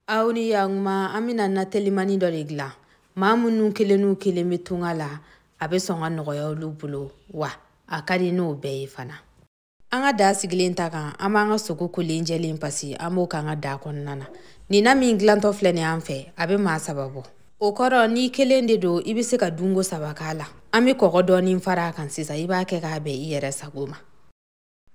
aw ni yanguma an bɛna na telimani dɔ de dilan maa minnu kelen n'u kelen bɛ tunga la a bɛ sɔn ka nɔgɔya olu bolo wa a ka di n'o bɛɛ ye fana an ka daa sigilen ta kan an b'an ka sogo kolen jɛlen pasi an b'o k'an ka daa kɔnɔna na nin na min dilantɔ filɛ nin an fɛ a bɛ maa saba bɔ o kɔrɔ n'i kelen de don i bɛ se ka dunko saba k'a la an bɛ kɔgɔ dɔɔni fara a kan sisan i b'a kɛ k'a bɛn i yɛrɛ sago ma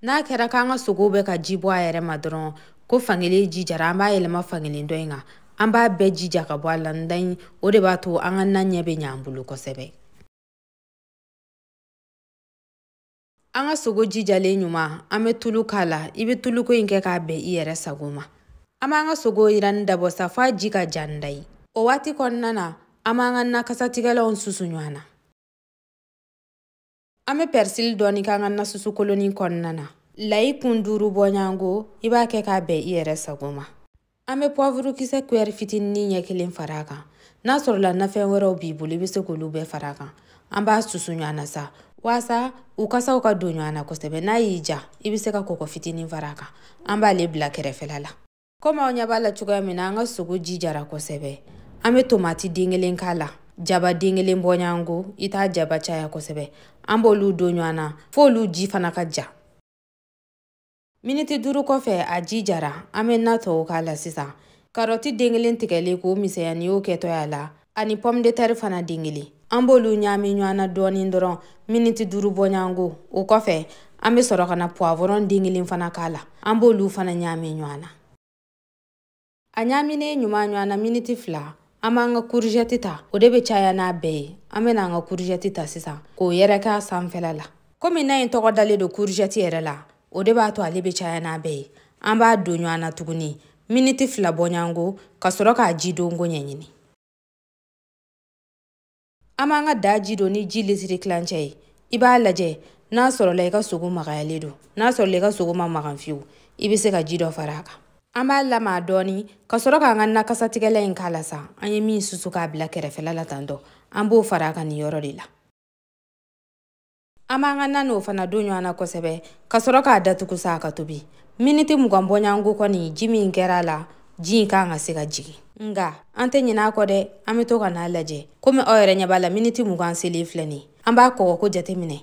n'a kɛra k'an ka sogow bɛ ka ji bɔ a yɛrɛ ma dɔrɔn ko fankelen ji jara an b'a yɛlɛma fankelen dɔ in kan an b'a bɛɛ ji ja ka bɔ a la ndayi o de b'a to an ka na ɲɛ bɛ ɲɛ an bolo kosɛbɛ an ka sogo ji jalen ɲuman an bɛ tulu k'a la i bɛ tuluko in kɛ k'a bɛn i yɛrɛ sago ma an b'an ka sogo yiranni dabɔ sa f'a ji ka ja ndayi o waati kɔnɔna na an b'an ka nakasatigɛlanw susu ɲɔgɔn na an bɛ pɛrisili dɔɔni k'an ka nasusukolonin kɔnɔna na layi kun duuru bɔɲɔgɔnko i b'a kɛ k'a bɛn i yɛrɛ sago ma an bɛ puwavuru kisɛ kuyɛri fitinin ɲɛ kelen fara a kan n'a sɔrɔla nafɛn wɛrɛw b'i bolo i bɛ se k'olu bɛɛ fara a kan an b'a susu ɲɔgɔn na sa waasa u kasaw ka don ɲɔgɔn na kosɛbɛ n'a y'i ja i bɛ se ka kɔkɔ fitinin fara a kan an b'ale bila kɛrɛfɛla la komi aw ɲɛ b'a la cogoya min na an ka sogo ji jara kosɛbɛ an bɛ tomati den kelen k'a la jaba den kelen bɔɲɔgɔnko i t'a jaba caya kosɛbɛ an b'olu don ɲɔgɔn na f'olu ji fana ka ja miniti duuru kɔfɛ a ji jara an bɛ na tɔw k'a la sisan karɔti den kelen tigɛlen k'o misɛnya nin y'o kɛtɔ y'a la ani pomme de terre fana den kelen an b'olu ɲaami ɲɔgɔn na dɔɔnin dɔrɔn miniti duuru bɔɲɔgɔnko o kɔfɛ an bɛ sɔrɔ ka na puwavɔrɔn den kelen fana k'a la an b'olu fana ɲaami ɲɔgɔn na a ɲaaminen ɲuman ɲɔgɔn na miniti fila an b'an ka kuruzɛti ta o de bɛ caya n'a bɛɛ ye an bɛna an ka kuruzɛti ta sisan k'o yɛrɛkɛ a sanfɛla la komi na in tɔgɔ dalen don kuruzɛti yɛrɛ la o de b'a to ale bɛ caya n'a bɛɛ ye an b'a don ɲɔgɔn na tuguni miniti fila bɔɲɔgɔnko ka sɔrɔ k'a ji donko ɲɛɲini an b'an ka daa ji don ni ji litiri tilancɛ ye i b'a lajɛ n'a sɔrɔla i ka sogo magayalen don n'a sɔrɔla i ka sogo man magan fiyewu i bɛ se ka ji dɔ fara a kan an b'a lamaga dɔɔni ka sɔrɔ k'an ka nakasatigɛlan in k'a la sa an ye min susu k'a bila kɛrɛfɛla la tantɔ an b'o fara a kan nin yɔrɔ de la an b'an ka na n'o fana don ɲɔgɔn na kosɛbɛ ka sɔrɔ k'a datugu sa a ka tobi miniti mugan bɔɲɔgɔnko kɔni ji min kɛra a la ji in ka kan ka se ka jigin nga an tɛ ɲinɛ a kɔ dɛ an bɛ to ka n'a lajɛ komi aw yɛrɛ ɲɛ b'a la miniti mugan selen filɛ nin an b'a kɔgɔko jateminɛ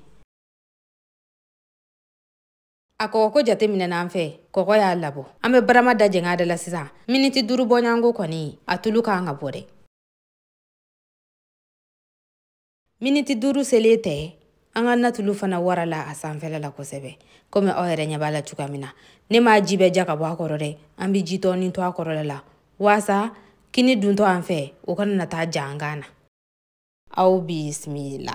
a kɔgɔko jateminɛna an fɛ kɔgɔ y'a labɔ an bɛ barama da jɛngɛ a da la sisan miniti duuru bɔɲɔgɔnko kɔni a tulu ka kan ka bɔ dɛ miniti duuru selen tɛ an ka natulu fana wara la a sanfɛla la kosɛbɛ komi aw yɛrɛ ɲɛ b'a la cogo min na ne m'a ji bɛɛ ja ka bɔ a kɔrɔ dɛ an bɛ ji tɔɔni to a kɔrɔla la waasa kini duntɔ an fɛ o kana na taa ja an kan na aw bisimila